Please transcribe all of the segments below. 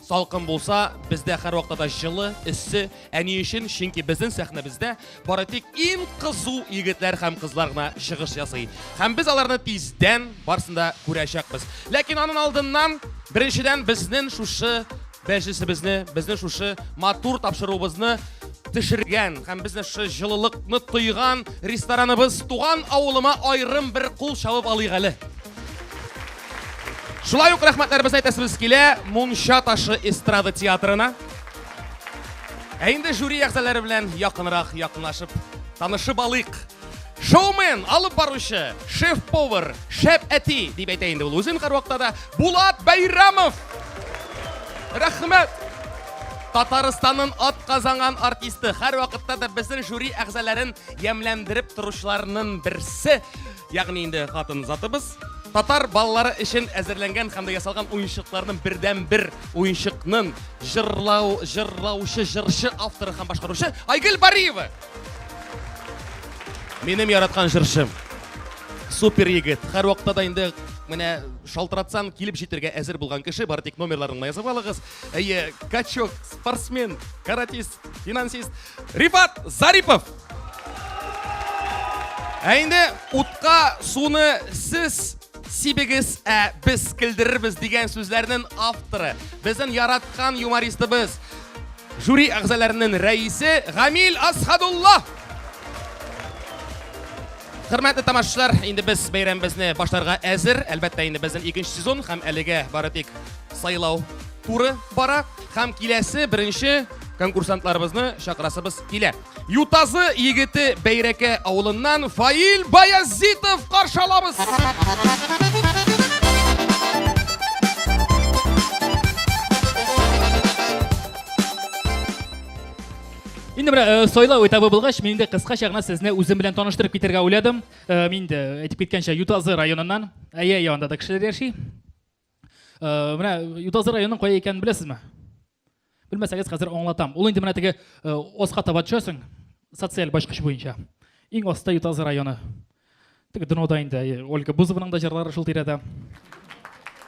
Салкын булса, бездә һәрвакыта да җылы, эссе. Ә ни өчен? Чөнки безнең сәхнәбездә бары тик иң кызу егетләр һәм кызлар гына чыгыш ясый. Һәм без аларны тиздән барсын да күрәчәкбез. Ләкин аның алдыннан беренчедән безнең шушы бәҗесебезне, безнең шушы матур тапшыруыбызны төшергән һәм безне шушы җылылыкны тойган рестораныбыз Туган авылыма аерым бер кул чабып алыйк әле. Шулай ук рәхмәтләребезне әйтәсебез килә Мунча ташы эстрада театрына. Ә инде жюри әгъзалары белән якынрак якынлашып танышып алыйк. Шоумен, алып баручы, шеф-повар, шәп әти дип әйтә инде ул үзен һәрвакытта да Булат Бәйрамов. Рәхмәт. Татарстанның ат казанган артисты, һәрвакытта да безнең жюри әгъзаларын ямьләндереп торучыларның берсе. Ягъни инде хатын затыбыз татар балалары өчен әзерләнгән һәм дә ясалган уенчыкларның бердән бер уенчыкның җырлау җырлаучы җырчы авторы һәм башкаручы Айгөл Бариева. Минем яраткан җырчым. Супер егет. Һәр вакытта да инде менә шалтыратсаң килеп җитергә әзер булган кеше. Бары тик номерларыңны язып алыгыз. Әйе, качок, спортсмен, каратист, финансист Рифат Зарипов. Ә инде утка суны сез сибегез, ә без килдерербез дигән сүзләрнең авторы. Безнең яраткан юмористыбыз. Жюри әгъзаларының рәисе Гамил Асхадулла. Хөрмәтле тамашачылар, инде без бәйрәмебезне башларга әзер. Әлбәттә, инде безнең икенче сезон һәм әлегә бары тик сайлау туры бара. Һәм киләсе беренче конкурсантларыбызны чакырасыбыз килә. Ютазы егете Бәйрәкә авылыннан Фаил Баязитов каршы алабыз. Инде менә э, сайлау этабы булгач, мин инде кыскача гына сезне үзем белән таныштырып китәргә уйладым. Э, мин инде әйтеп киткәнчә Ютазы районыннан, әйе, янында да кешеләр яши. Э, менә Ютазы районының кая икәнен беләсезме? Белмәсәгез, хәзер аңлатам. Ул инде менә теге аска таба төшәсең, социаль башкыч буенча. Иң аста Ютазы районы. Теге днода инде Ольга Бузованың да җырлары шул тирәдә.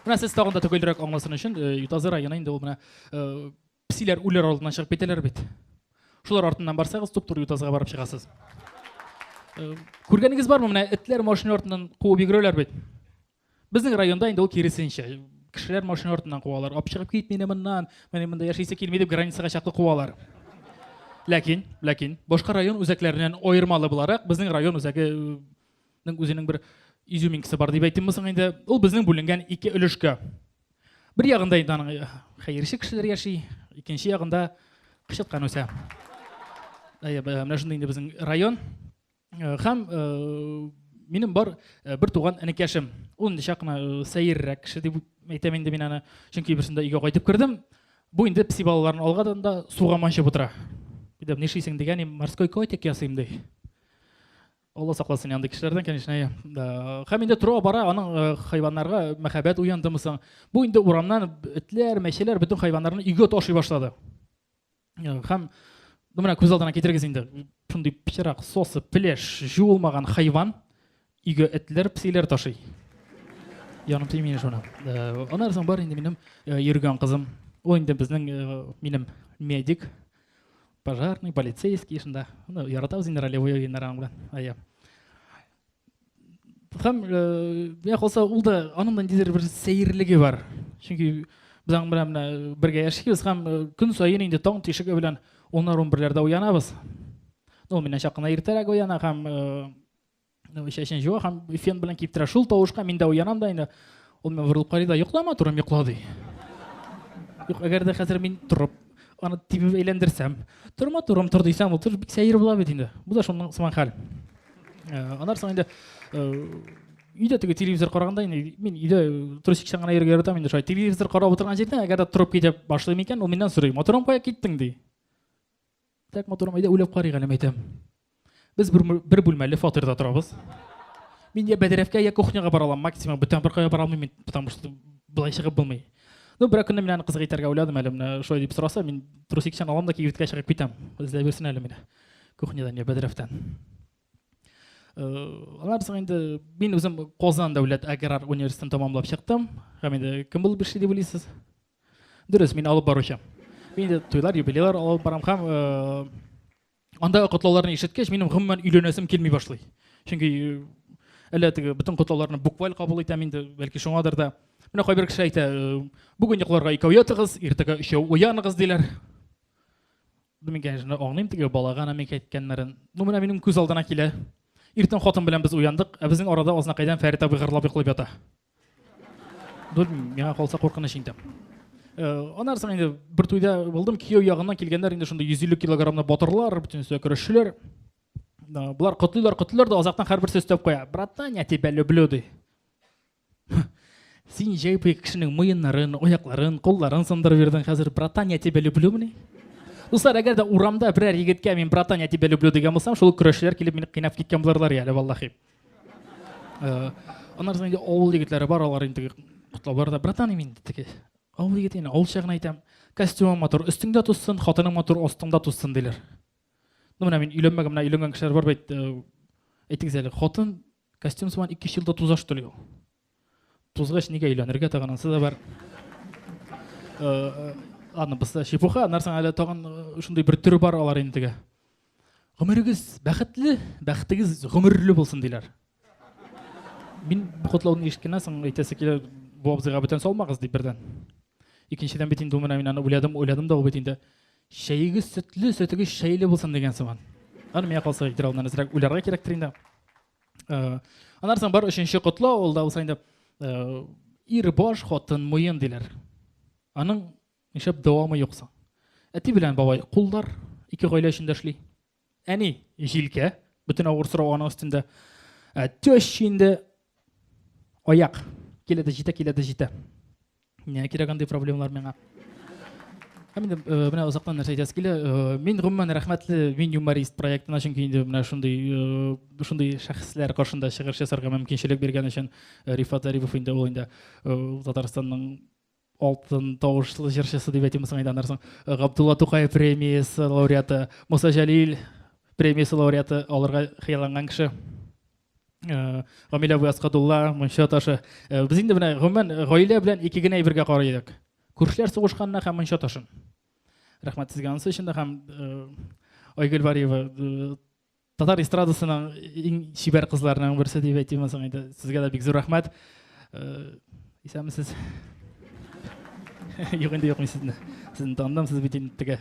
Менә сез тагын да төгәлрәк аңласын өчен Ютазы районы инде ул менә Псиләр үләр алдыннан чыгып китәләр бит. Шулар артыннан барсагыз, туп-туры ютазга барып чыгасыз. Э, күргәнегез бармы, менә этләр машина артыннан куып йөгерәләр бит. Безнең районда инде ул киресенчә. Кешеләр машина артыннан куалар. Алып чыгып кит мине моннан, менә монда яшисе килми дип границага чаклы куалар. Ләкин, ләкин, башка район үзәкләреннән аермалы буларак, безнең район үзәгенең э, үзенең бер изюминкасы бар дип әйтимме соң инде. Ул безнең бүленгән ике өлешкә. Бер ягында инде аның э, хәерче кешеләр яши, икенче ягында кычыткан үсә. Әйе, менә шундый инде безнең район. Э, һәм э, минем бар э, бер туган энекәшем. Ул инде чак кына сәеррәк кеше дип әйтәм инде мин аны. Чөнки берсендә өйгә кайтып кердем. Бу инде пси балаларын алгадан да суга манчып утыра. Дидем, нишлисең дигән, морской котик ясыйм ди. Алла сакласын янды кешеләрдән, конечно. Хәм инде тора бара аның э, хайваннарга мәхәббәт уяндымы соң? Бу инде урамнан этләр, мәчеләр бөтен хайваннарны өйгә ташый башлады. Хәм ну менә күз алдына китерегез инде. Шундый пычрак, сосы, пилеш, жуылмаган хайван өйгә этләр, псиләр ташый. Яным тимени шуна. Э, Анар соң бар инде минем э, йөргән кызым. Ул инде безнең минем медик. пожарный полицейский шунда ну яратабыз инде ролевой уеннар аның белән әйе һәм миңа калса ул да аның да ниндидер бер сәерлеге бар чөнки без аның белән менә бергә яшибез һәм көн саен инде таң тишеге белән уннар унберләрдә уянабыз ну миннән чак кына иртәрәк уяна һәм чәчен җуа һәм фен белән киптерә шул тавышка мин дә уянам да инде ул миңа борылып карый да йоклама турым йокла ди юк әгәр дә хәзер мин торып аны тибеп әйләндерсәм торма турым тор дисәм ул тор бик сәер була бит инде бу да шуның сыман хәл аннан соң инде үйде теге телевизор караганда инде мин үйдә трусикчан гына йөрергә яратам инде шулай телевизор карап утырган җирдә әгәр дә торып китеп башлыйм икән ул миннән сорый матурым кая киттең ди Так матурым, әйдә уйлап карыйк әле, мәйтәм. Без бер, бер бүлмәле фатирда торабыз. Мин я бәдрәфкә, я кухняга бара алам, максимум бүтән бер кая бара алмыйм мин, потому что былай чыгып булмый. Ну, берәр көнне мин аны кызга әйтергә уйладым әле, менә шулай дип сораса, мин трусикчан алам да кибеткә чыгып китәм. Эзләп йөрсен әле мине. Кухнядан я бәдрәфтән. Алар соң инде мин үзем Казан дәүләт аграр университетын тәмамлап чыктым. Һәм инде кем булып эшли дип уйлыйсыз? Дөрес, мин алып баручы. Мин дә туйлар, юбилейлар алып барам һәм э, анда котлауларны ишеткәч, минем гомумән өйләнәсем килми башлый. Чөнки э, әллә теге бөтен котлауларны букваль кабул итәм инде, бәлки шуңадыр да. Менә кайбер кеше әйтә, э, бүген йокларга икәү ятыгыз, иртәгә өчәү уяныгыз диләр. Мин, конечно, аңлыйм теге балага намек әйткәннәрен. Ну, менә минем күз алдына килә. Иртән хатын белән без уяндык, ә безнең арада азнакайдан Фәрит абый гырлап йоклап ята. Белмим, миңа калса куркыныч инде. Э, аннары соң инде бер туйда булдым, кияү ягыннан килгәннәр инде шундый 150 килограммлы батырлар, бөтен өстә көрәшчеләр. Болар котлыйлар, котлыйлар да азактан һәрберсе өстәп куя. Братан, я тебя люблю ди. Син җәй буе кешенең муеннарын, аякларын, кулларын сындырып йөрдең, хәзер братан, я тебя люблю мени? Дуслар, әгәр дә урамда берәр егеткә мин братан, я тебя люблю дигән булсам, шул көрәшчеләр килеп мине кыйнап киткән булырлар әле, валлахи. Э, аннары соң инде авыл егетләре бар, алар инде котлаулар да, братан, мин инде теге авыл егете, инде авылча гына әйтәм, костюмың матур, өстеңдә туссын, хатының матур, астыңда туссын, диләр. Ну, менә мин өйләнмәгән, менә өйләнгән кешеләр бар бит, э, әйтегез әле, хатын костюм сыман 2 елда тузаш түли ул. Тузгач нигә өйләнергә тагын ансы да бар. Аны бысы чепуха, нарсан әле тагын шундый бер төре бар алар инде. Гомерегез бәхетле, бәхетегез гомерле булсын диләр. Мин бу котлауны ишеткәннән соң әйтәсе килә, бу абзыйга бүтән салмагыз дип бердән. Икенчедән бит инде менә мин аны уйладым, уйладым да ул бит инде чәегез сөтле, сөтегез чәйле булсын дигән сыман. Аны миңа калса, Илдар алдан әзрәк уйларга кирәктер инде. Э, аннан соң бар өченче котлау ул да булса инде э, ир баш хатын муен диләр аның нишләп дәвамы юк соң әти белән бабай куллар ике гаилә өчен дә эшли әни җилкә бөтен авыр сорау аның өстендә ә, теща инде аяк килә дә җитә килә дә җитә Нигә кирәк андый проблемалар миңа? Һәм инде э, менә озактан нәрсә әйтәсе килә. Э, мин гомумән рәхмәтле мин юморист проектына, чөнки инде менә шундый э, шундый шәхесләр каршында чыгыш ясарга мөмкинчелек биргән өчен Рифат Зарипов инде ул инде Татарстанның алтын тавышлы җырчысы дип әйтимме соң әйтәннәрсең габдулла тукай премиясы лауреаты муса җәлил премиясе лауреаты алырга хыялланган кеше Э, гамилә абый аскадулла мунча ташы э, без инде менә гомумән э, гаилә белән ике генә әйбергә карый идек күршеләр сугышканына һәм мунча ташын рәхмәт сезгә анысы өчен дә һәм айгөл вариева татар эстрадасының иң чибәр кызларының берсе дип әйтимме соң инде сезгә дә бик зур рәхмәт исәнмесез юк инде юк мин сезне сезне таныдым сез бит инде теге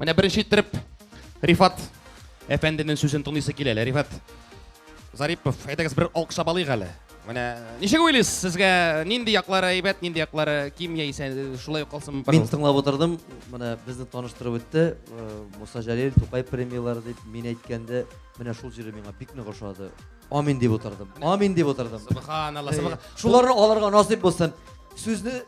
Менә беренче иттереп Рифат әфәнденең сүзен тыңлыйсы килә әле. Рифат Зарипов, әйдәгез бер алкышлап алыйк әле. Менә ничек уйлыйсыз, сезгә нинди яклары әйбәт, нинди яклары ким яисә шулай ук калсын? Мин тыңлап утырдым, менә безне таныштырып үтте. Э, Муса Җәлил, Тукай премияләре дип мин әйткәндә, менә шул җире миңа бик нык ошады. Амин дип утырдым. Амин дип утырдым. Субханалла, субхан. Шуларны алырга насыйп булсын. Сүзне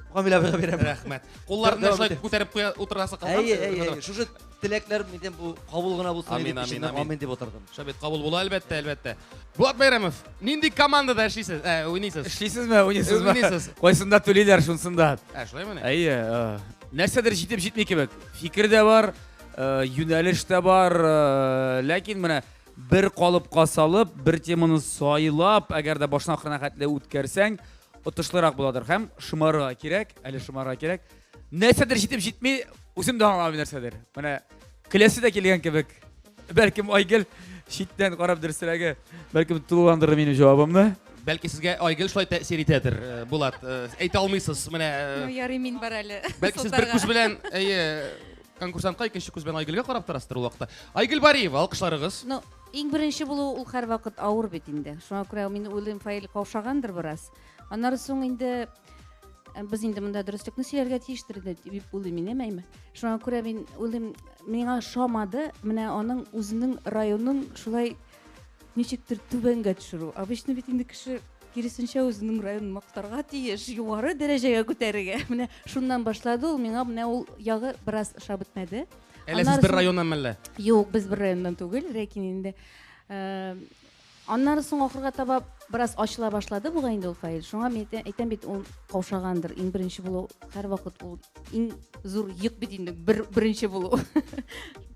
Камилә бирә бирә. Рәхмәт. Кулларны шулай күтәреп куя утырасы калган. Әйе, әйе. Шушы теләкләр минем бу кабул гына булсын дип ишеннән амин дип утырдым. Шабит кабул була әлбәттә, әлбәттә. Булат Бәйрәмов, нинди командада эшлисез? Ә, уйныйсыз? Эшлисезме, уйныйсызмы? Уйныйсыз. Кайсында түлиләр шунсында. Ә, шулаймыни? Әйе. Э, нәрсәдер җитеп җитми кебек. Фикер дә бар, э, юнәлеш тә бар, э, ләкин менә Бер калыпка салып, бер теманы сайлап, әгәр дә башына ахырына хәтле үткәрсәң, отышлырак буладыр һәм шымарга кирәк, әле шымарга кирәк. Нәрсәдер җитеп җитми, үзем дә аңламыйм нәрсәдер. Менә киләсе дә килгән кебек. Бәлкем Айгел читтән карап дөресрәге, бәлкем тулыландырыр минем җавабымны. Бәлки сезгә Айгел шулай тәэсир итәдер, э, Булат. Э, әйтә алмыйсыз, менә. Э, ну, ярый мин бар әле. Бәлки сез бер күз белән, әйе, Конкурсантка икенче күз белән Айгөлгә карап торасызdır ул вакытта. Айгөл Бариева, алкышларыгыз. Ну, иң беренче булу ул һәрвакыт авыр бит инде. Шуңа күрә мин уйлыйм, Фаил каушагандыр бераз. Аннары соң инде э, без инде монда дөреслекне сөйләргә тиештер инде дип уйлыйм мин, әмәйме? Шуңа күрә мин уйлыйм, миңа шамады, менә аның үзенең районның шулай ничектер түбәнгә төшерү обычно бит инде кеше киресенчә үзенең районын мактарга тиеш югары дәрәҗәгә күтәрергә менә шуннан башлады ул миңа менә ул ягы бераз ошап бетмәде әллә сез бер районнан мәллә юк без бер районнан түгел ләкин инде э, аннары соң ахырга таба бераз ачыла башлады бугай инде ул фаил шуңа мин әйтәм бит ул каушагандыр иң беренче булу һәрвакыт ул иң зур йөк бит инде бер беренче булу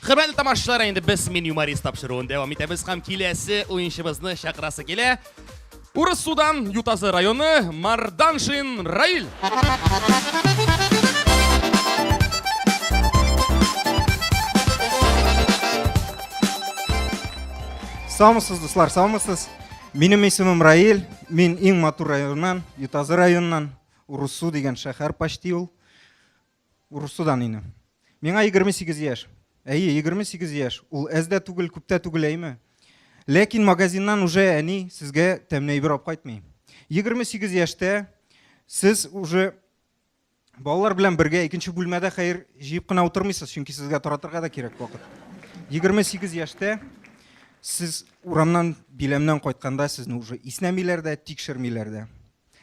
Хөрмәтле тамашачылар, инде без Мин юморист тапшыруын дәвам итәбез һәм киләсе уенчыбызны чакырасы килә. Урыс судан Ютазы районы Марданшин Раил. Саумысыз, дуслар, саумысыз. Минем исемем Раил, мин иң матур районнан, Ютазы районнан, Урусу дигән шәһәр почти ул. Урысудан ине. Миңа егерме сигез яшь. Әйе, егерме сигез яшь. Ул әз дә түгел, күп тә түгел, әйме? Ләкин магазиннан уже әни сезгә тәмле әйбер алып кайтмый. Егерме сигез яшьтә сез уже балалар белән бергә икенче бүлмәдә хәер җыеп кына утырмыйсыз, чөнки сезгә таратырга да кирәк вакыт. Егерме сигез яшьтә сез урамнан биләмнән кайтканда сезне уже иснәмиләр дә, тикшермиләр дә.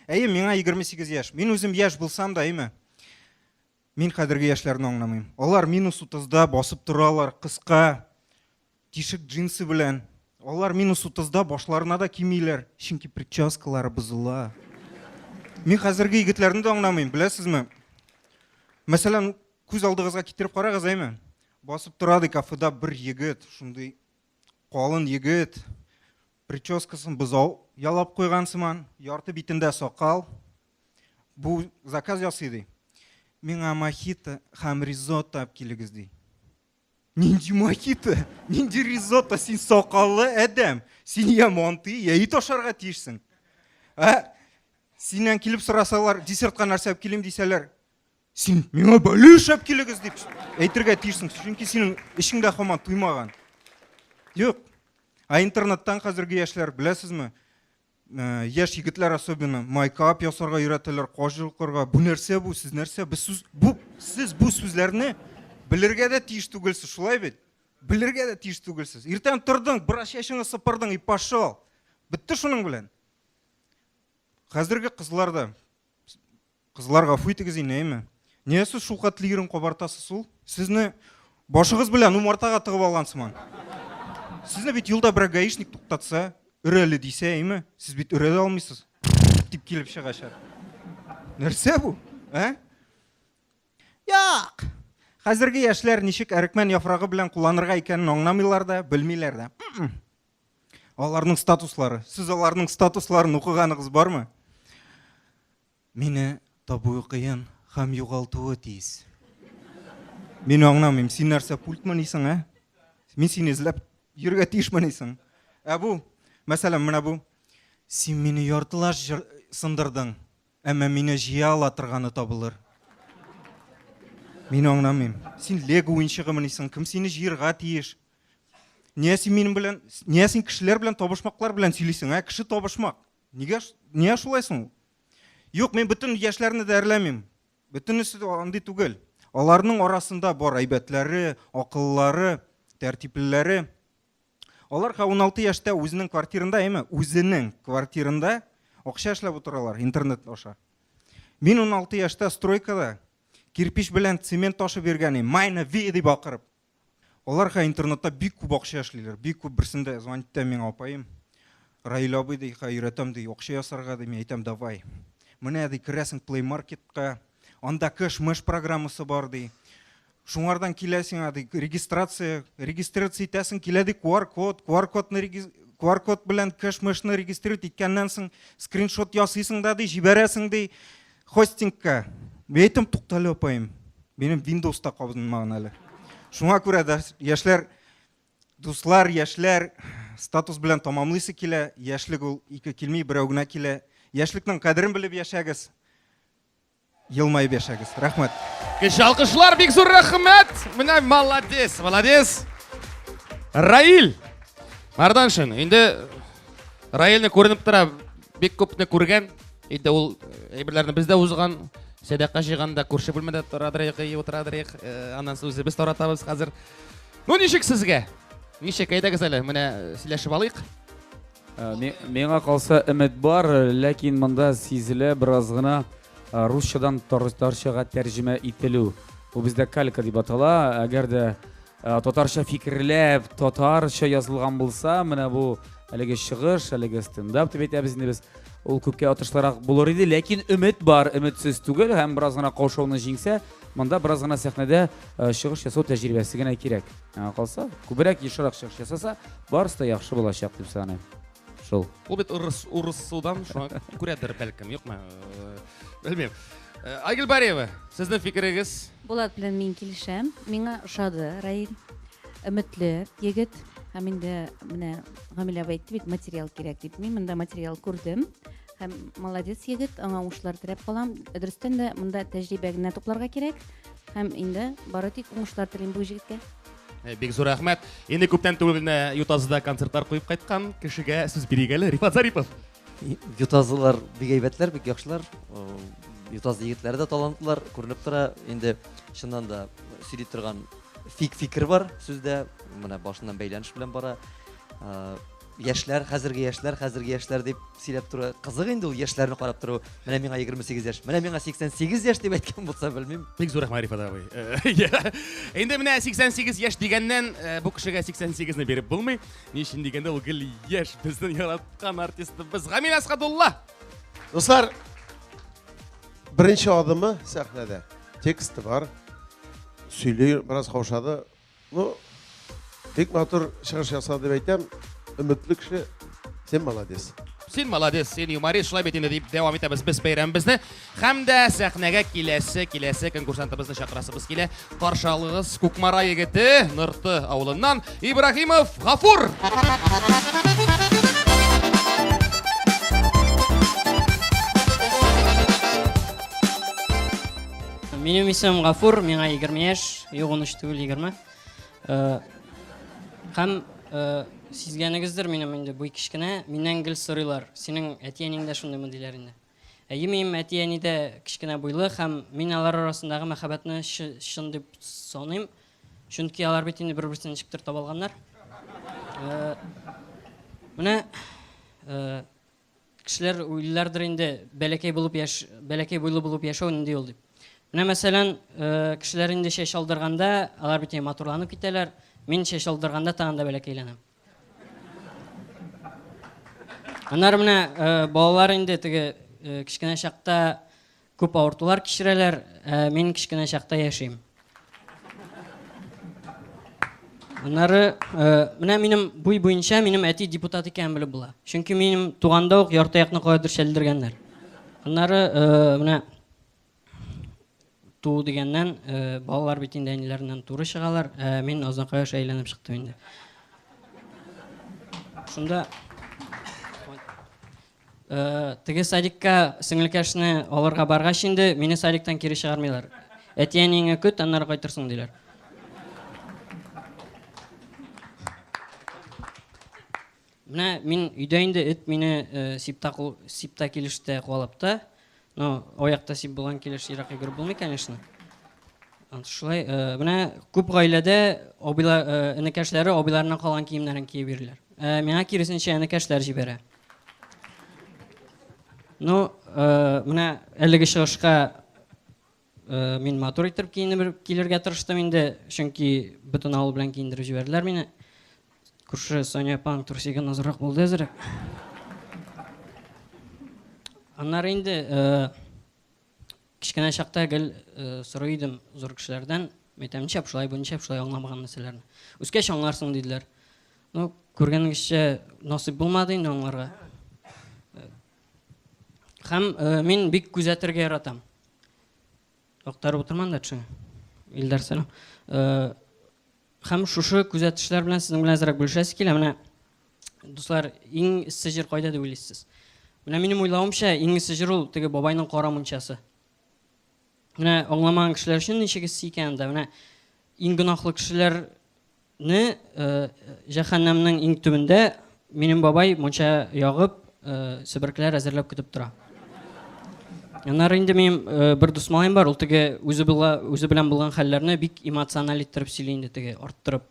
Әйе, миңа егерме сигез яшь. Мин үзем яшь булсам да, әйме? Мин хәзерге яшьләрне аңламыйм. Алар минус 30-да басып торалар, кыска, тишек джинсы белән. Алар минус 30-да башларына да кимиләр, чөнки прическалары бозыла. Мин хәзерге егетләрне дә аңламыйм, беләсезме? Мәсәлән, күз алдыгызга китереп карагыз, әйме? Басып тора ди кафеда бер егет, шундый калын егет, Прическасын бозау ялап куйган сыман, ярты битендә сакал. Бу заказ ясый ди. Миңа мохито һәм ризотто алып килегез ди. Нинди мохито? Нинди ризотто? Син сакаллы адәм. Син я монты, я ит ашарга тиешсең. Ә? Синнән килеп сорасалар, десертка нәрсә алып килим дисәләр, Син миңа бәле эшләп килегез дип әйтергә тиешсең, чөнки синең эшеңдә хаман туймаган. Юк. Ә интернеттан хәзерге яшьләр беләсезме? Э, яшь егетләр особенно майкап ясарга өйрәтәләр, каш йолкырга. Бу нәрсә бу? Сез нәрсә? Без сүз бу сез бу сүзләрне белергә дә тиеш түгелсез, шулай бит? Белергә дә тиеш түгелсез. Иртән тордың, бераз чәчеңне сыпырдың и пошел. Бетте шуның белән. Хәзерге кызлар да Кызлар гафу итегез инде, әйме? Нигә сез шул катлы ирен кабартасыз ул? Сезне башыгыз белән умартага тыгып алган сыман. Сезне бит юлда берәр гаишник туктатса, өрәле дисә, әйме? Сез бит өрә дә алмыйсыз. Дип килеп чыгачак. Нәрсә бу? Ә? Як! Хәзерге яшьләр ничек әрекмән яфрагы белән кулланырга икәнен аңламыйлар да, белмиләр дә. Аларның статуслары. Сез аларның статусларын укыганыгыз бармы? Мине табуы кыен хәм югалтуы тиз. Мин аңламыйм, син нәрсә пультмыни соң, ә? Мин сине эзләп йөрергә тиешмени соң? Ә бу, мәсәлән, менә бу. Син мине яртылаш сындырдың, әмма мине җыя ала торганы табылыр. Мин аңламыйм. Син лего уенчыгымыни соң? Кем сине җыерга тиеш? Нигә син минем белән, нигә син кешеләр белән табышмаклар белән сөйлисең, ә? Кеше табышмак. Нигә, нигә шулай соң? Юк, мин бөтен яшьләрне дә әрләмим. Бөтенесе дә андый түгел. Аларның арасында бар әйбәтләре, акыллылары, тәртиплеләре. Алар 16 яшьтә үзенең квартирында, әйме, үзенең квартирында акча эшләп утыралар интернет аша. Мин 16 яшьтә стройкада кирпич белән цемент ташып йөргән идем. Майна ви дип акырып. Аларга интернетта бик күп акча эшлиләр. Бик күп берсендә звонит итә миңа апаем. Раил абый ди, өйрәтәм ди, акча ясарга ди, мин әйтәм, давай. Менә ди, керәсең Play Market-ка, анда кэш-мэш программасы бар ди. Шуңардан килә сиңа ди, регистрация, регистрация итәсең, килә ди QR-код, QR-кодны QR-код белән кэш-мэшны регистрировать иткәннән соң скриншот ясыйсың да ди, җибәрәсең ди. Хостингка. Бәйтем туктале апаем. Минем Windows та кабынмаган әле. Шуңа күрә дә яшьләр дуслар, яшьләр статус белән тамамлыйсы килә. Яшьлек ул ике килми, берәү генә килә. Яшьлекнең кадерен белеп яшәгез. Елмаеп яшәгез. Рәхмәт. Кеше алкышлар бик зур рәхмәт. Менә молодец, молодец. Раил. Марданшин, инде Раилне күренеп тора, бик күпне күргән. Инде ул э, әйберләрне без дә узган, сәдака җыйганда күрше бүлмәдә торадырыйк, и утырадырыйк, э, аннан соң үзебез таратабыз хәзер. Ну ничек сезгә? Ничек әйдәгез әле, менә э, сөйләшеп алыйк. Э, ми- Миңа калса өмет бар, ләкин монда сизелә бераз гына э, русчадан тар- тарчага тәрҗемә ителү. Бу бездә калька дип атала. Әгәр дә Татарча фикерләп, татарча язылган булса, менә бу әлеге чыгыш, әлеге стендап дип әйтәбез инде без. Ул күпкә отышлырак булыр иде, ләкин өмет бар, өметсез түгел һәм бераз гына каушауны җиңсә, монда бераз гына сәхнәдә э, чыгыш ясау тәҗрибәсе генә кирәк. Аңа калса, күбрәк ешрак чыгыш ясаса, барысы да яхшы булачак дип саныйм. Шул. Ул бит урыс урысудан шуңа күрәдер бәлкем, юкмы? Э, белмим. Э, Айгөл Бариева, сезнең фикерегез? Булат белән мин килешәм. Миңа ошады Раил. Өметле егет. Һәм инде менә Гамилә әйтте бит, материал кирәк дип. Мин монда материал күрдем. Һәм молодец егет, аңа уңышлар теләп калам. Дөрестән дә монда тәҗрибә генә тупларга кирәк. Һәм инде бары тик уңышлар телим бу егеткә. Э, бик зур рәхмәт. Инде күптән түгел генә Ютазыда концертлар куеп кайткан кешегә сүз бирик әле. Рифат Зарипов. Ютазылар бик әйбәтләр, бик яхшылар. Э, Ютазы егетләре дә талантлылар, күренеп тора. Инде чыннан да сөйли торган фик фикер бар сүздә. Менә башыннан бәйләнеш белән бара. Э, Яшьләр, хәзерге яшьләр, хәзерге яшьләр дип сөйләп тору кызык инде ул яшьләрне карап тору. Менә миңа 28 яшь, менә миңа 88 яшь дип әйткән булса белмим. Бик зур рәхмәт Рифат абый. Инде менә 88 яшь дигәннән бу кешегә 88 не биреп булмый. Ни өчен дигәндә ул гел яшь безнең яраткан артистыбыз Гамил Асхадулла. Дуслар, беренче адымы сәхнәдә. Тексты бар. Сөйли, бераз каушады. Ну, бик матур чыгыш ясады дип әйтәм. Өметле кеше, син молодец. Син молодец, син юморист, шулай бит инде дип дәвам итәбез без бәйрәмебезне. Һәм дә сәхнәгә киләсе, киләсе конкурсантыбызны чакырасыбыз килә. Каршы алыгыз Кукмара егете, Нырты авылыннан Ибрагимов Гафур. Минем исемем Гафур, миңа 20 яшь. Юк, он өч түгел, егерме. Э, һәм э, сизгәнегездер минем инде буй кечкенә, миннән гел сорыйлар, синең әти-әниң дә шундыймы диләр инде. Әйемим, әти-әни дә кечкенә буйлы һәм мин алар арасындагы мәхәббәтне чын дип саныйм, чөнки алар бит инде бер-берсен ничектер таба алганнар. Э, менә Кешеләр уйлыйлардыр инде, бәләкәй булып яш, бәләкәй буйлы булып яшәү нинди ул дип. Менә мәсәлән, э, кешеләр инде чәч алдырганда, алар бит матурланып китәләр. Мин чәч алдырганда тагын да бәләкәйләнәм. Аннары менә э, балалар инде теге э, кечкенә чакта Күп авыртулар кичерәләр, ә мин кечкенә чакта яшим. Аннары, менә минем буй буенча минем әти депутат икәнен белеп була. Чөнки минем туганда ук ярты якны каядыр чәлдергәннәр. Аннары, менә туу дигәннән, балалар бит инде әниләреннән туры чыгалар, ә мин Озынкая аша әйләнеп чыктым инде. Шунда Теге садикка сеңелкәшне алырга баргач инде, мине садиктан кире чыгармыйлар. Әти-әниеңә көт, аннары кайтырсың, диләр. Менә мин өйдә инде эт мине сипта килеште куалап та, Ну, аякта сип булган килеш ерак йөгереп булмый, конечно. Шулай, э, менә күп гаиләдә абыйлар, э, энекәшләре абыйларыннан калган киемнәрен киеп йөриләр. Э, миңа киресенчә энекәшләр җибәрә. Ну, менә әлеге чыгышка Мин матур итеп киенеп килергә тырыштым инде, чөнки бөтен авыл белән киендереп җибәрделәр мине. Күрше Соня апаның турсигы назрак булды әзерәк. Аннары инде кечкенә чакта гел сорый идем зур кешеләрдән, әйтәм, ничә шулай бу, ничә шулай аңламаган нәрсәләрне. Үскәч аңларсың диделәр. Ну, күргәнегезчә, насыйп булмады инде аңларга. Хәм мин бик күзәтергә яратам. Актарып утырман да төшә. Илдар сәлам. Хәм шушы күзәтешләр белән сезнең белән әзрәк бүлешәсе килә. Менә дуслар, иң эссе җир кайда дип уйлыйсыз? Менә минем уйлавымча, иң эссе җир ул теге бабайның кара мунчасы. Менә аңламаган кешеләр өчен ничек эссе икән анда. Менә иң гөнаһлы кешеләр Не җәһәннәмнең иң төбендә минем бабай мунча ягып, себеркеләр әзерләп көтеп тора. Аннары инде минем бер дус малаем бар, ул теге үзе була, үзе белән булган хәлләрне бик эмоциональ иттереп сөйли инде теге арттырып.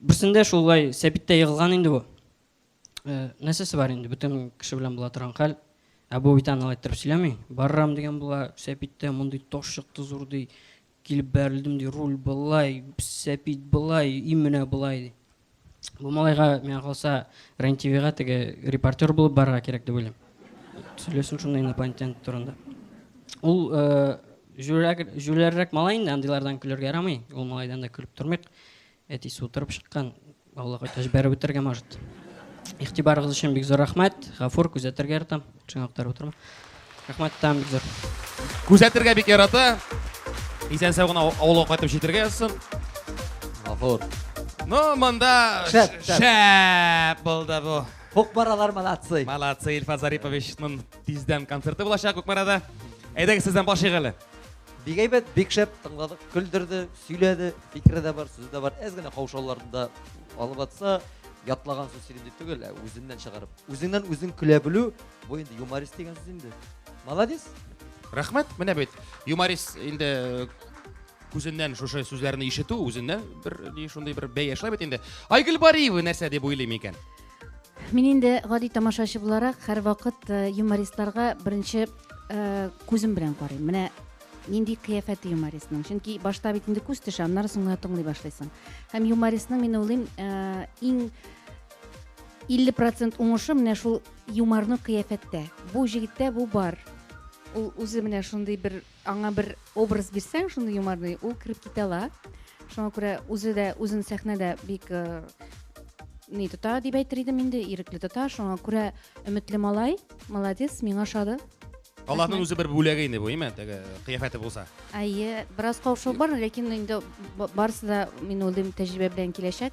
Берсендә шулай сәбиттә егылган инде бу. Нәрсәсе бар инде, бөтен кеше белән була торган хәл. Ә бу бит аны алай иттереп сөйләми. Барырам дигән була, сәбиттә мондый таш чыкты зур ди. Килеп бәрелдем, ди, руль былай, сәпит былай, им менә былай, ди. Бу малайга, миңа калса, РЕН-ТВга теге репортер булып барырга кирәк дип уйлыйм. Сөйләсен шунда инопланетян турында. Ул җүләррәк малай инде, андыйлардан көлергә ярамый. Ул малайдан да көлеп тормыйк. Әтисе утырып чыккан, Аллага үтә җибәреп үтергән, может. Игътибарыгыз өчен бик зур рәхмәт. Гафур, күзәтергә яратам. Шуңа күтәреп утырма. Рәхмәт, там бик зур. Күзәтергә бик ярата. Исән сау гына авылга кайтып җитәргә язсын. Гафур. Ну, монда шәп, шәп булды бу. Кукмаралар молодцы. Молодцы, Ильфа Зариповичның тиздән концерты булачак Кукмарада. Әйдәгез сездән баш игале. Бик әйбәт, бик шәп тыңладык, көлдерде, сөйләде, фикере дә бар, сүзе дә бар. Әз генә каушауларында алып атса, ятлаган сүз сөйлим дип түгел, ә үзеннән чыгарып. Үзеңнән үзең көлә белү, бу инде юморист дигән сүз инде. Молодец. Рәхмәт, менә бит. Юморист инде э, күзеннән шушы сүзләрне ишетү, үзеннән бер шундый бер бәя шулай бит инде. Айгөл Бариева нәрсә дип уйлыйм икән? Мин инде гади тамашачы буларак һәрвакыт э, юмористларга беренче э, күзем белән карыйм. Менә нинди кыяфәте юмористның. Чөнки башта бит инде күз төшә, аннары соң гына тыңлый башлыйсың. Һәм юмористның мин уйлыйм, э, иң 50% уңышы менә шул юморны кыяфәттә. Бу җегеттә бу бар. Ул үзе менә шундый бер Аңа бер образ бирсәң шундый юморный, ул кереп китә ала. Шуңа күрә үзе дә үзен сәхнәдә бик э, ни тота дип әйтер идем инде, ирекле тота. Шуңа күрә өметле малай, молодец, миңа ошады. Аллаһның үзе бер бүләге инде бу, име? Теге кыяфәте булса. Әйе, бераз каушау бар, ләкин инде ба- барысы да мин уйлыйм тәҗрибә белән киләчәк.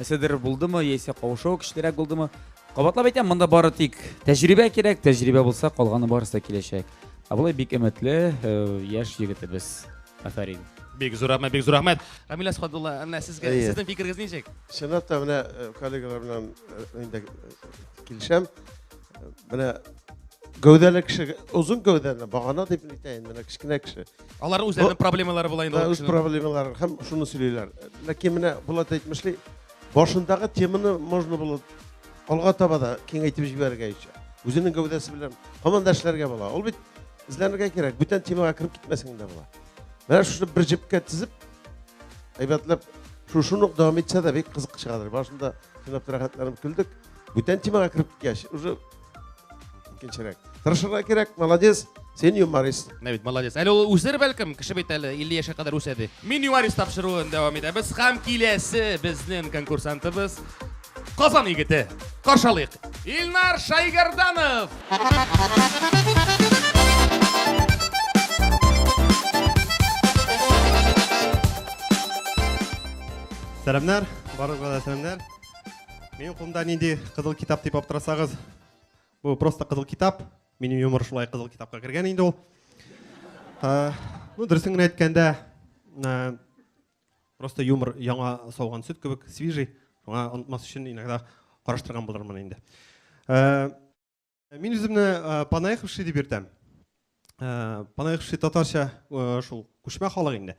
Эседер булдымы, яисә кавышуы көчлерәк булдымы? Кабатлап әйтәм, монда бары тик тәҗрибә кирәк, тәҗрибә булса, калганы барысы да киләчәк. Ә болай бик өметле э, яшь егетебез. Афәрин. Бик зур рәхмәт, бик зур рәхмәт. Рамил Әсхадулла, менә сезгә, Әйе. сезнең фикерегез ничек? Чынлап та менә э, коллегалар белән э, инде э, килешәм. Э, Менә гәүдәле кеше, озын гәүдәле, багана дип әйтәйен, менә кечкенә кеше. Алар үзләренең проблемалары була инде. Үз проблемалары һәм шуны сөйлиләр. Ләкин менә Булат әйтмешли, башындагы теманы можно было алга таба да киңәйтеп җибәрергә ичә. Үзенең гәүдәсе белән һаман да эшләргә була. Ул бит эзләнергә кирәк, бүтән темага кереп китмәсәң дә була. Менә шуны бер җепкә тезеп, әйбәтләп шушыны ук дәвам итсә дә бик кызык чыгадыр. Башында тыңлап рәхәтләнеп көлдек. Бүтән темага кереп киткәч, уже икенчерәк тырышырга кирәк молодец сен юморист менә бит молодец әле ул үсер бәлкем кеше бит әле илле яшькә кадәр үсә ди мин юморист тапшыруын дәвам итәбез һәм киләсе безнең конкурсантыбыз казан егете каршы алыйк илнар шайгәрданов сәламнәр барлыгына да сәламнәр Минем кулымда нинди кызыл китап дип аптырасагыз, бу просто кызыл китап. Минем юмор шулай кызыл китапка кергән инде ул. Ә, ну, дөресен генә әйткәндә, ә, просто юмор яңа сауган сөт кебек, свежий. Шуңа онытмас өчен иногда караштырган булырмын инде. Ә, Мин үземне э, Панаеховши дип йөртәм. Э, Панаеховши татарча э, шул күчмә халык инде.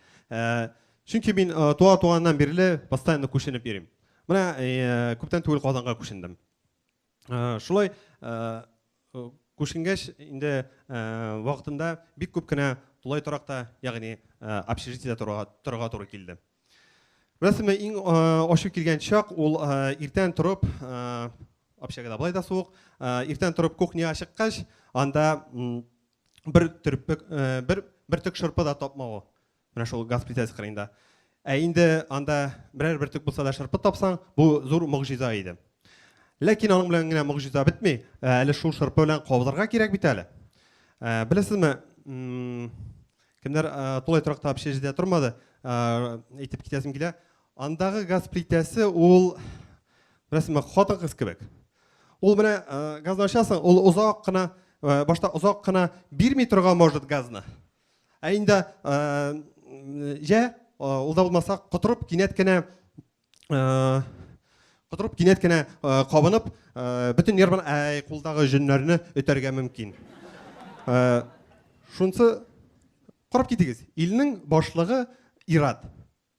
Чөнки мин туа туганнан бирле постоянно күченеп йөрим. Менә күптән түгел Казанга күчендем. Шулай күченгәч инде вакытында бик күп кенә тулай торакта, ягъни общежитиедә торырга туры килде. Беләсезме, иң ачу килгән чак ул иртән торып, общагада болай да суык, иртән торып кухняга чыккач, анда бер төрпек, бер бөртек шырпы да тапмавы. Менә шул газ плитәсе кырыенда. Ә инде анда берәр бөртек булса да шырпы тапсаң, бу зур могҗиза иде. Ләкин аның белән генә могҗиза бетми, әле шул шырпы белән кабызырга кирәк бит әле. Беләсезме, Кемнәр тулай торакта общежитиедә тормады, әйтеп китәсем килә. Андагы газ плитәсе ул рәсеме хатын-кыз кебек. Ул менә газны ачасың, ул озак кына башта озак кына бирми торган может газны. Ә инде җә ул да булмаса котырып кинәт кенә котырып кинәт кенә кабынып бөтен нервын кулдагы җөннәрне өтәргә мөмкин шунысы карап китегез илнең башлыгы ират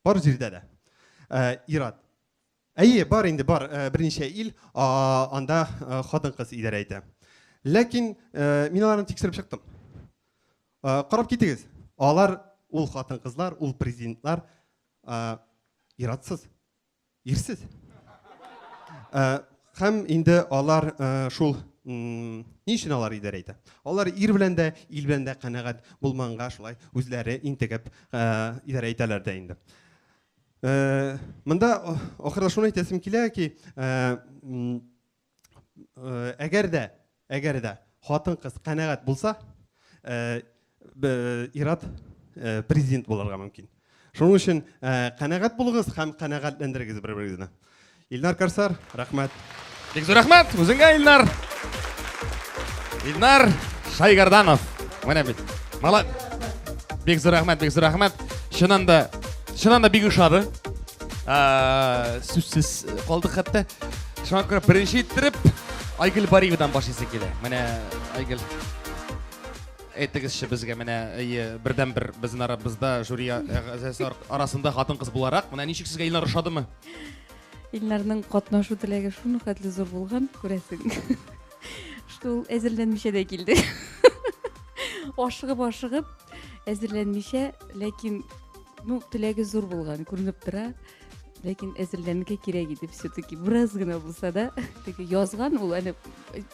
бар җирдә дә ират әйе бар инде бар берничә ил анда хатын кыз идарә итә ләкин мин аларны тикшереп чыктым карап китегез алар ул хатын кызлар ул президентлар Ә, иратсыз, ирсез. Ә, һәм инде алар ә, шул ни өчен алар идарә итә? Алар ир белән дә, ил белән дә канәгать булманга шулай үзләре интегеп ә, идарә итәләр дә инде. Ә, монда ахырда шуны әйтәсем килә ки, ә, Э, әгәр дә әгәр дә хатын кыз канәгать булса э, ират э, президент булырга мөмкин шуның өчен канәгать булыгыз һәм канәгатьләндерегез бер берегезне илнар корсар рәхмәт бик зур рәхмәт үзеңә илнар илнар шайгарданов менә бит бик зур рәхмәт бик зур рәхмәт чыннан да чыннан да бик ошады Ә, сүзсез калдык хәтта. Шуңа күрә беренче иттереп Айгөл Бариевадан башлыйсы килә. Менә Айгөл әйтегезче безгә менә әйе бердән бер безнең арабызда жюри әгъзасы ар- арасында хатын кыз буларак менә ничек сезгә Илнар ошадымы? Илнарның катнашу теләге шуны хәтле зур булган, күрәсең. Что ул әзерләнмичә дә килде. Ашыгып-ашыгып, әзерләнмичә, ләкин Ну, теләге зур булган, күренеп тора. Ләкин әзерләнергә кирәк иде все-таки. Бераз гына булса да, теге язган ул, әле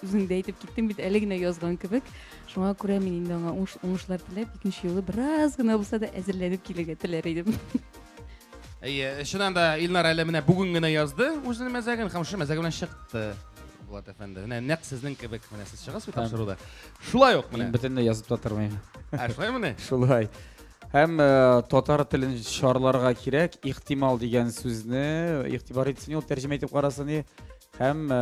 үзең дә әйтеп киттең бит, әле генә язган кебек. Шуңа күрә мин инде аңа уңыш, уңышлар теләп, икенче юлы бераз гына булса да әзерләнеп килергә теләр идем. Әйе, чыннан да Илнар әле менә бүген генә язды үзенең мәзәген һәм шушы мәзәге белән чыкты. Булат әфәнде. Менә нәкъ сезнең кебек менә сез чыгасыз бит Һәм. тапшыруда. Шулай ук Мин менә. бөтенләй язып та тормыйм. Ә шулай менә. Шулай. Һәм э, татар телен шарларга кирәк, ихтимал дигән сүзне игътибар итсен ул тәрҗемә итеп карасын и. Һәм э,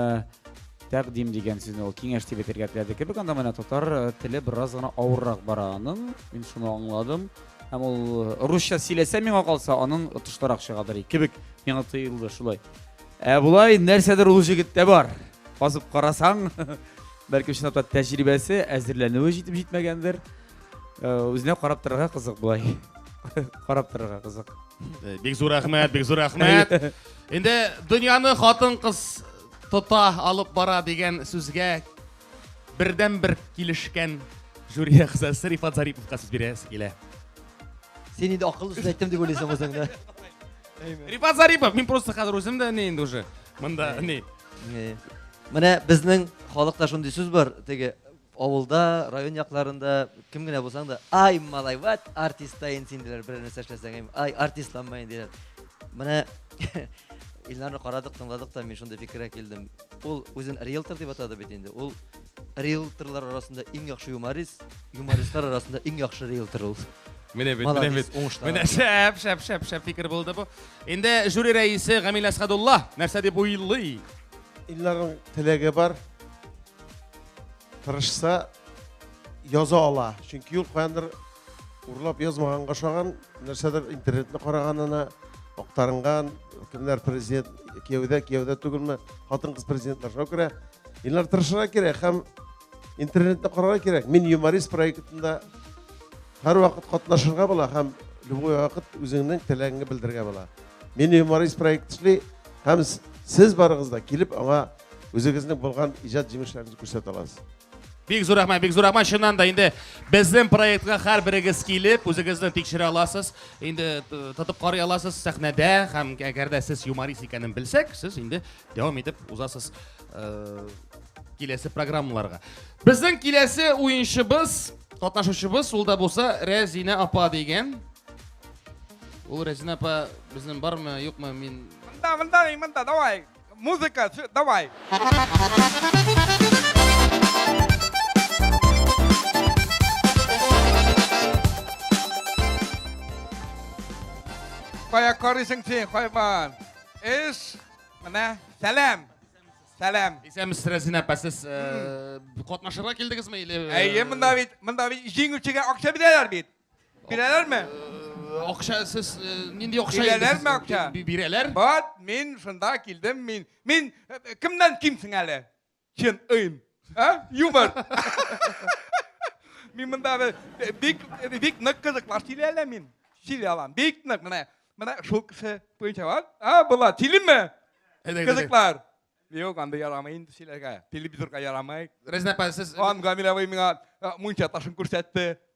тәкъдим дигән сүзне ул киңәш дип әйтергә теләде кебек. Анда менә татар э, теле бераз гына авыррак бара аның. Мин шуны аңладым. Һәм ул русча сөйләсә миңа калса, аның отышлырак чыгадыр кебек миңа тоелды шулай. Ә болай нәрсәдер ул җегеттә бар. Казып карасаң, бәлки чынлап та тәҗрибәсе, әзерләнүе җитеп җитмәгәндер. Үзенә карап торырга кызык болай. Карап торырга кызык. Бик зур рәхмәт, бик зур рәхмәт. Инде дөньяны хатын-кыз тота алып бара дигән сүзгә бердән бер килешкән жюри әгъзасы Рифат Зариповка сүз бирәсе килә. Син инде акыллы сүз әйттем дип уйлыйсың үзеңне. Рифат Зарипов, мин просто хәзер үзем дә ни инде уже. Монда ни. Менә безнең халыкта шундый сүз бар, теге Авылда, район якларында кем генә булсаң да, ай, малай, ват, артистаен син диләр, берәр нәрсә эшләсәң, ай, артистланмаен диләр. Менә Илнарны карадык, тыңладык та, мин шундый фикергә килдем. Ул үзен риэлтор дип атады бит инде. Ул риэлторлар арасында иң яхшы юморист, юмористлар арасында иң яхшы риэлтор ул. Менә бит, менә бит. Менә шәп, шәп, шәп, шәп фикер булды бу. Инде жюри рәисе Гамил Әсхадулла нәрсә дип уйлый? Илларның теләге бар. тырышса яза ала чөнки ул каяндыр урлап язмаганга ошаган нәрсәдер интернетны караганына актарынган кемнәр президент кияүдә кияүдә түгелме хатын кыз президентлар шуңа күрә Илнар тырышырга кирәк һәм интернетны карарга кирәк мин юморист проектында һәрвакыт катнашырга була һәм любой вакыт үзеңнең теләгеңне белдерергә була мин юморист проект эшли һәм сез барыгыз да килеп аңа Үзегезнең булган иҗат җимешләрегезне күрсәтә аласыз. Бик зур рәхмәт, бик зур рәхмәт. Чыннан да инде безнең проектка һәрберегез килеп, үзегезне тикшерә аласыз. Инде тотып карый аласыз сәхнәдә һәм әгәр дә сез юморист икәнен белсәк, сез инде дәвам итеп узасыз э, киләсе программаларга. Безнең киләсе уенчыбыз, катнашучыбыз ул да булса Рәзинә апа дигән. Ул Рәзинә апа безнең бармы, юкмы, мин... Монда, монда, монда, давай. Музыка, все, давай. Кая карыйсың син, хайван? Эш, менә, сәлам. Сәлам. Исәнмесез, Рәзинә апа, сез э, катнашырга килдегезме или? Әйе, монда бит, монда бит җиңүчегә акча бирәләр бит. Бирәләр ме? Акча сез нинди акча Бирәләр ме акча? Бирәләр. Вот, мин шунда килдем, мин. Мин кемнән кимсең әле? Чын ыйм. А? Юмор. Мин монда бик бик нык кызыклар сөйли әле мин. Сөйли алам. Бик нык менә. Менә шул кеше буенча бар. А, була, сөйлиме? Кызыклар. Юк, анда ярамый инде сөйләргә. Телевизорга ярамый. Рәзинә апа, сез... Ан Гамиләвый миңа мунча ташын күрсәтте.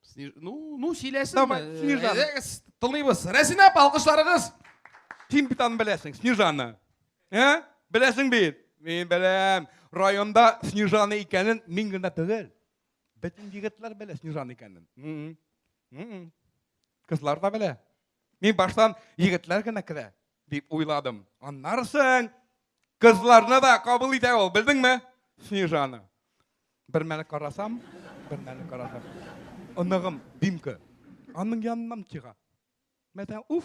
Снеж... Ну, ну сөйләсен. Давай, э, Снежана. Әйдәгез, тыңлыйбыз. Рәсинә, алкышларыгыз. Син бит аны беләсең, Снежана. Ә? Беләсең бит. Мин беләм. Районда Снежана икәнен мин генә түгел. Бөтен егетләр белә Снежана икәнен. Кызлар да белә. Мин баштан егетләр генә керә дип уйладым. Аннарсың кызларны да кабул итә ул, белдеңме? Снежана. Бер мәле карасам, бер мәле карасам. Оныгым Димка. Аның яныннан чыга. Мәтән уф.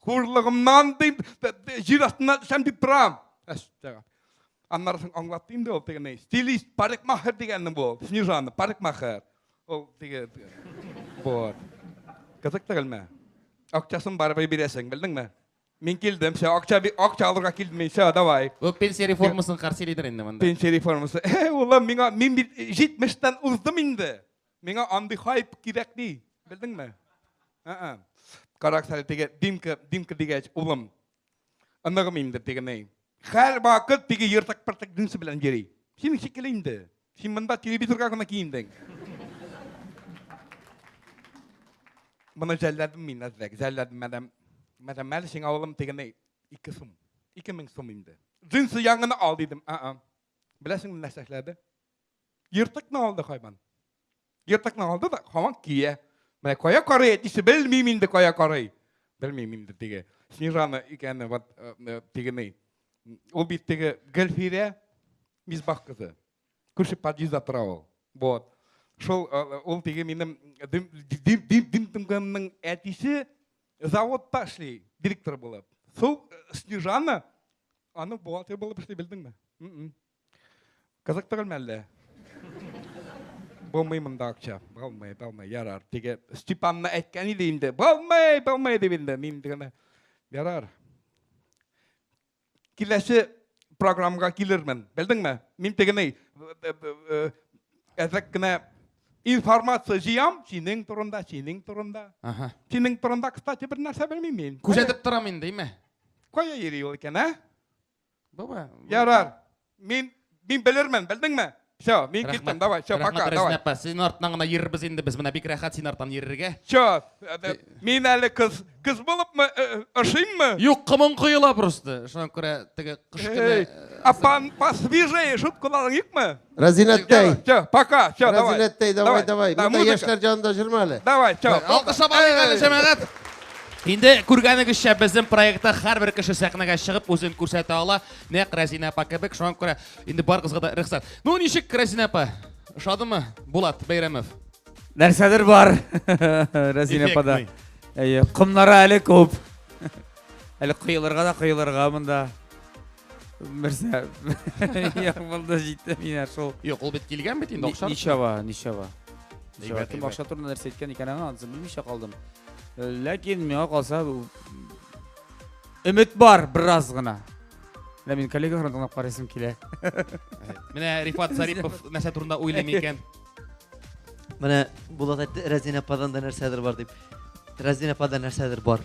Хурлыгымнан дим, җир астына төшәм дип торам. Әстәгә. Аннарысын аңлатты инде ул тегене. Стилист, парикмахер дигәнне бу. Снежана, парикмахер. Ул теге. Вот. Кызык түгелме? Акчасын барыбер бирәсең, белдеңме? Мин килдем, все, акча, би- акча алырга килдем мин, все, давай. Бу пенсия реформасын каршы лидер инде монда. Пенсия реформасы. Э, Улым, миңа, мин бит 70-тән уздым инде. Миңа андый хайп кирәкми, белдеңме? Ә-ә. Каракс әле теге Димка, Димка дигәч, улым, оныгым инде теге ни. Һәр вакыт теге ертык-пыртык дүнсе белән йөри. Синең шикелле инде. Син монда телевизорга гына киендең. Моны жәлләдем мин әзрәк, жәлләдем мәдәм. Мәдәм әле сиңа улым тегене ике сум. Ике мең сум инде. Джинсы яңгыны ал дидем. А-а. Беләсеңме нәрсә эшләде? Ертыкны алды хайван. Ертыкны алды да һаман кия. Менә кая карый әтисе белмим инде кая карый. Белмим инде теге. Снежана икәнне вот э, э, тегене. Ул бит теге Гөлфирә Мисбах кызы. Күрше подъездда тора ул. Вот. Шул э, ул теге минем дим дим дим әтисе заводта эшли, директор булып. Су Снежана аны бухгалтер булып эшли белдеңме? Кызыктырмы әллә? Булмый монда акча. Булмый, булмый, ярар. Теге Степанны әйткән иде инде. Булмый, булмый дип инде. Мин генә ярар. Киләсе программага килермен. Белдеңме? Мин тегене әзәк кенә информация җыям синең турында, синең турында. Ага. Синең турында, кстати, бер нәрсә белмим мин. Күзәтеп торам инде, име? Кая йөри ул икән, ә? Бу бу. Ярар. Мин мин белермен, белдеңме? Все, мин киттем, давай, все, пока, давай. Рәхмәт, апа, син артынан гына йөрербез инде, без менә бик рәхәт син артан йөрергә. Все, э, э, мин әле кыз, кыз булыпмы, э, ошыйммы? Юк, кымың коела просто. Шуңа күрә теге кыш көне... Апан, посвежее, шут кулалың юкмы? Рәзинәттәй. Все, пока, все, давай. Рәзинәттәй, давай, давай. Да, Монда музыка. яшьләр җанында җырма әле. Давай, все. Алкыш алайык әле, җәмәгать. Инде күргәнегезчә, безнең проектта һәрбер кеше сәхнәгә чыгып үзен күрсәтә ала. Нәкъ Рәзинә апа кебек, шуңа күрә инде барыгызга да рөхсәт. Ну ничек Рәзинә апа? Ошадымы? Булат Бәйрәмов. Нәрсәдер бар. Рәзинә апа да. Әйе, комнары әле күп. Әле коелырга да коелырга монда. Мирза. Я булды җитте мина шул. Юк, ул бит килгән бит инде акча. Ничава, ничава. Ничава кем акча турында нәрсә әйткән икән аңа, аны белмичә калдым. Э, ләкин миңа калса өмет бар бераз гына. Менә мин коллегаларны тыңлап карыйсым килә. Менә Рифат Зарипов нәрсә турында уйлый микән? Менә Булат әйтте, Рәзинә паданда нәрсәдер бар дип. Рәзинә паданда нәрсәдер бар.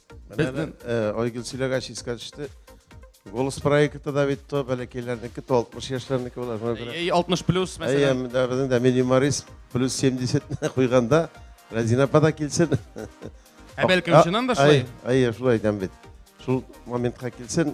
Безнең э, Айгөл сөйләгәч искә төште. Голос проекты да бит то бәләкәйләрнеке, то 60 яшьләрнеке була. Шуңа күрә. Ей 60 плюс Әйе, мәсәлән. менә дә безнең дә минималист плюс 70 не куйганда Разина апа да килсен. Ә бәлкем чыннан да шулай? Әйе, әйе, шулай әйтәм бит. Шул моментка килсен.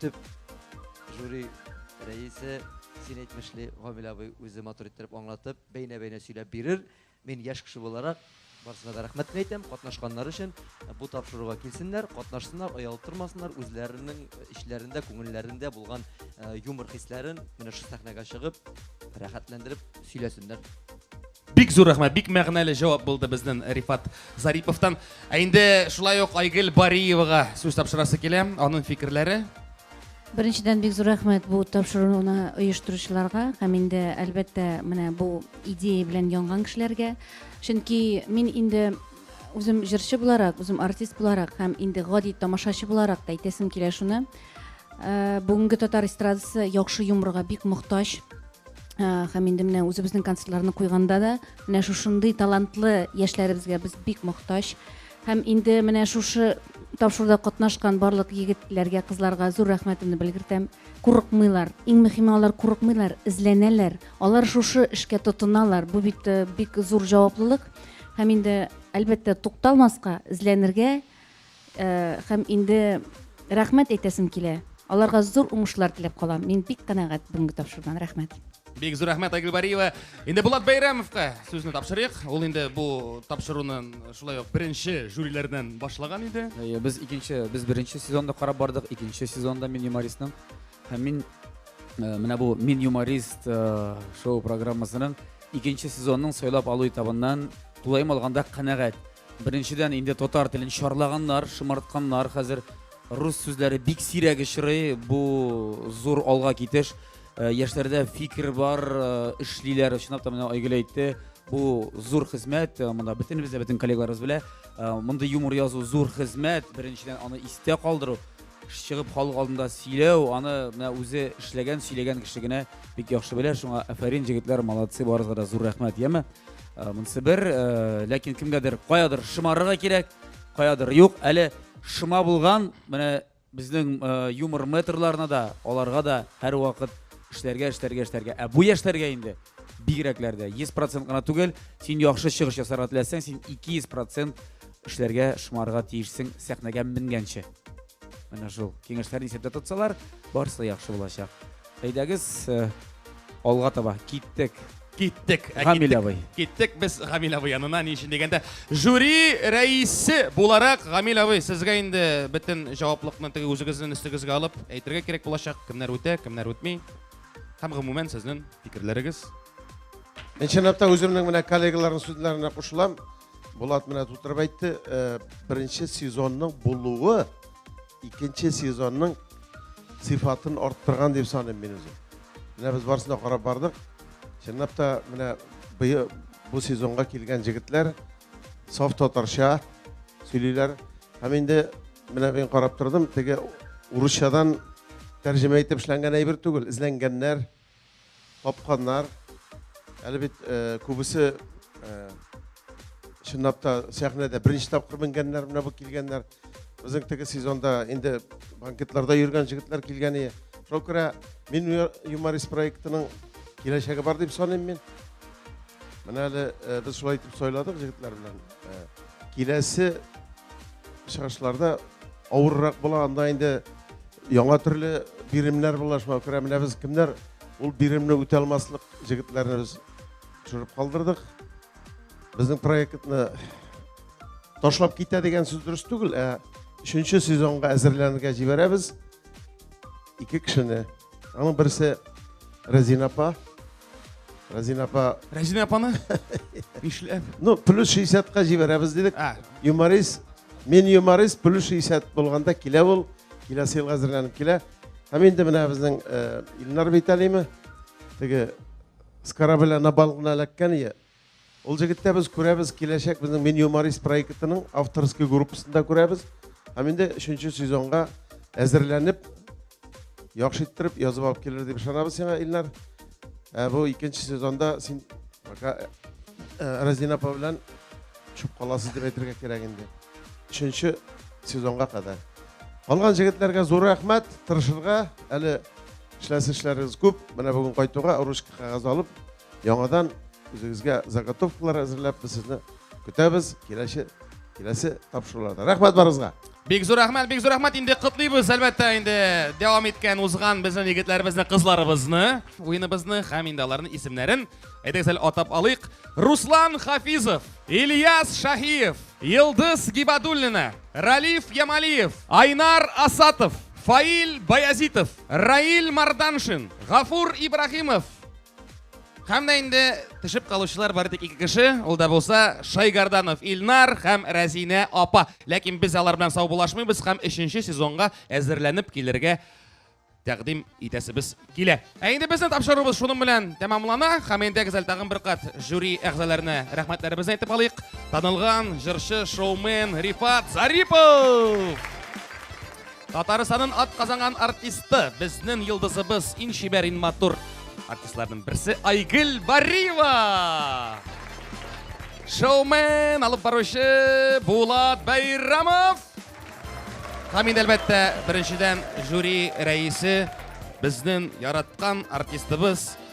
Төп жюри рәисе син әйтмешли Гамил абый үзе матур иттереп аңлатып, бәйнә-бәйнә сөйләп бирер. Мин яшь кеше буларак барысына да рәхмәт әйтәм, катнашканнар өчен бу тапшыруга килсеннәр, катнашсыннар, оялтырмасыннар, үзләренең эчләрендә, күңелләрендә булган юмор хисләрен менә шу сәхнәгә чыгып, рәхәтләндереп сөйләсеннәр. Бик зур рәхмәт, бик мәгънәле җавап булды безнен Рифат Зариповтан. Ә инде шулай ук Айгел Бариевага сүз тапшырасы килә, анын фикерләре. Беренчедән бик зур рәхмәт бу тапшыруны оештыручыларга һәм инде әлбәттә менә бу идея белән янган кешеләргә. Чөнки мин инде үзем җырчы буларак, үзем артист буларак һәм инде гади тамашачы буларак та әйтәсем килә шуны. Бүгенге татар эстрадасы яхшы юморга бик мохтаҗ. һәм инде менә үзебезнең концертларны куйганда да менә шушындый талантлы яшьләребезгә без бик мохтаҗ һәм инде менә шушы тапшыруда катнашкан барлык егетләргә кызларга зур рәхмәтемне белгертәм курыкмыйлар иң мөһиме алар курыкмыйлар эзләнәләр алар шушы эшкә тотыналар бу бит э, бик зур җаваплылык һәм инде әлбәттә тукталмаска эзләнергә Һәм инде рәхмәт әйтәсем килә. Аларга зур уңышлар теләп калам. Мин бик канәгать бүгенге тапшырудан. Рәхмәт. Бик зур рәхмәт, Айгөл Бариева. Инде Булат Бәйрәмовка сүзне тапшырыйк. Ул инде бу тапшыруны шулай ук беренче жюриләрдән башлаган иде. Әйе, без икенче, без беренче сезонда карап бардык, икенче сезонда мин юмористның. Һәм мин э, менә бу Мин юморист э, шоу программасының икенче сезонның сайлап алу этабыннан тулаем алганда канәгать. Беренчедән инде татар телен шарлаганнар, шымартканнар. Хәзер рус сүзләре бик сирәк очрый. Бу зур алга китеш. Э, яшьләрдә фикер бар, э, эшлиләр, чынлап та менә Айгөл әйтте. Бу зур хезмәт, э, монда бөтенебез дә бөтен коллегаларыбыз белә. Мондый юмор язу зур хезмәт. Беренчедән аны истә калдыру, чыгып халык алдында сөйләү, аны менә үзе эшләгән, сөйләгән кеше генә бик яхшы белә. Шуңа афәрин җегетләр, молодцы, барыгызга да зур рәхмәт, яме. Э, монысы бер э, ләкин кемгәдер каядыр шымарырга кирәк каядыр юк әле шыма булган менә безнең э, юмор метрларына да аларга да һәрвакыт эшләргә эшләргә эшләргә ә бу яшьләргә инде бигрәкләр дә йөз процент кына түгел син яхшы чыгыш ясарга теләсәң син ике йөз процент эшләргә шымарырга тиешсең сәхнәгә менгәнче Менә шул киңәшләрне исәптә тотсалар, барысы да яхшы булачак. Әйдәгез, э, алга таба киттек. Киттек. Ә Гамил киттек- абый. Киттек без Гамил абый янына. Ни өчен дигәндә, жюри рәисе буларак Гамил абый сезгә инде бөтен җаваплылыкны теге үзегезнең өстегезгә алып әйтергә кирәк булачак. Кемнәр үтә, кемнәр үтми. Һәм гомумән сезнең фикерләрегез. Чынлап та үземнең менә коллегаларның сүзләренә кушылам. Булат менә тутырып әйтте, э, беренче сезонның булуы икенче сезонның сыйфатын арттырган дип саныйм мин үзем. Менә без барысын да карап бардык. Чынлап та менә быел бу сезонга килгән җегетләр саф татарча сөйлиләр. Һәм инде менә мин карап тордым, теге урысчадан тәрҗемә итеп эшләнгән әйбер түгел, эзләнгәннәр. Капканнар, әле бит күбесе чынлап та сәхнәдә беренче тапкыр менгәннәр, менә бу килгәннәр. Безнең теге сезонда инде банкетларда йөргән җегетләр килгәне. Шуңа күрә мин юморист проектының киләчәге бар дип саныйм мин. Менә әле без шулай итеп сайладык җегетләр белән. Киләсе чыгышларда авыррак була, анда инде яңа төрле биремнәр була, шуңа күрә менә без кемнәр ул биремне үтә алмаслык җегетләрне без төшереп калдырдык. Безнең проектны ташлап китә дигән сүз дөрес түгел, ә өченче сезонга әзерләнергә җибәрәбез ике кешене. Аның берсе Рәзина апа, Рәзин апа. Рәзин апаны нишләп? Ну, плюс 60-ка җибәрәбез дидек. А. Юморист, мин юморист, плюс 60 булганда килә ул, киләсе елга әзерләнеп килә. Һәм инде менә безнең э, Илнар Бейталиме, теге с корабля на бал гына эләккән ие, Ул җегеттә без күрәбез, киләчәк безнең Мин юморист проектының авторский группасын да күрәбез. Һәм инде өченче сезонга әзерләнеп, яхшы иттереп язып алып килер дип ышанабыз сиңа, Илнар. Ә бу икенче сезонда син пока э, э, Разина апа белән төшеп каласыз дип әйтергә кирәк инде. Өченче сезонга кадәр. Калган җегетләргә зур рәхмәт, тырышырга, әле эшләсе эшләрегез күп. Менә бүген кайтуга ручка кагаз алып, Яңадан үзегезгә заготовкалар әзерләп без сезне көтәбез киләсе киләсе тапшыруларда. Рәхмәт барыгызга. Бик зур рәхмәт, бик зур рәхмәт. Инде котлыйбыз, әлбәттә, инде дәвам иткән узган безнең егетләребезне, кызларыбызны, уеныбызны һәм инде аларның исемнәрен әйдәгез әле атап алыйк. Руслан Хафизов, Ильяс Шаһиев, Йылдыз Гибадуллина, Ралиф Ямалиев, Айнар Асатов, Фаил Баязитов, Раил Марданшин, Гафур Ибрахимов, Һәм дә инде төшеп калучылар бары тик ике кеше, ул да булса Шайгарданов Илнар һәм Рәзинә апа. Ләкин без алар белән саубулашмыйбыз һәм өченче сезонга әзерләнеп килергә тәкъдим итәсебез килә. Ә инде безнең тапшыруыбыз шуның белән тәмамлана. Һәм инде гүзәл тагын бер кат жюри әгъзаларына рәхмәтләребезне әйтеп алыйк. Танылган җырчы, шоумен Рифат Зарипов! Татарстаннын ат казанган артисты, безнен йолдызыбыз, ин чибәр, ин матур артистларнын берсе Айгел Бариева! Шоумен, алып баручы Булат Байрамов! Һәм инде әлбәттә, беренчедән жюри рәисе, безнен яраткан артистыбыз,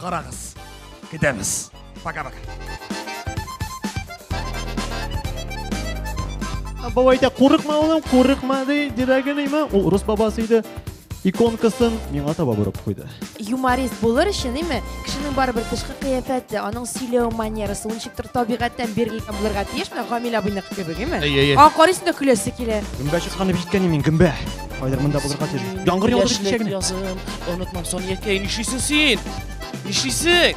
Карагыз. Китәбез. Пока-пока. Бабай әйтә, курыкма улым, курыкма ди, дирәген име. Ул рус бабасы иде. Иконкасын миңа таба борып куйды. Юморист булыр өчен, име, кешенең барыбер тышкы кыяфәте, аның сөйләү манерасы, ул ничектер табигатьтән бирелгән булырга тиеш, менә Гамил абыйныкы кебек, име? Әй, әй, әй. Аңа карыйсың да көләсе килә. Гөмбә чыккан дип җиткән мин, гөмбә. Кайдыр монда булырга тиеш. Яңгыр яудырып Яшьлек кичәгенә. язын онытмам сон якәй нишлисең син? Нишлисең?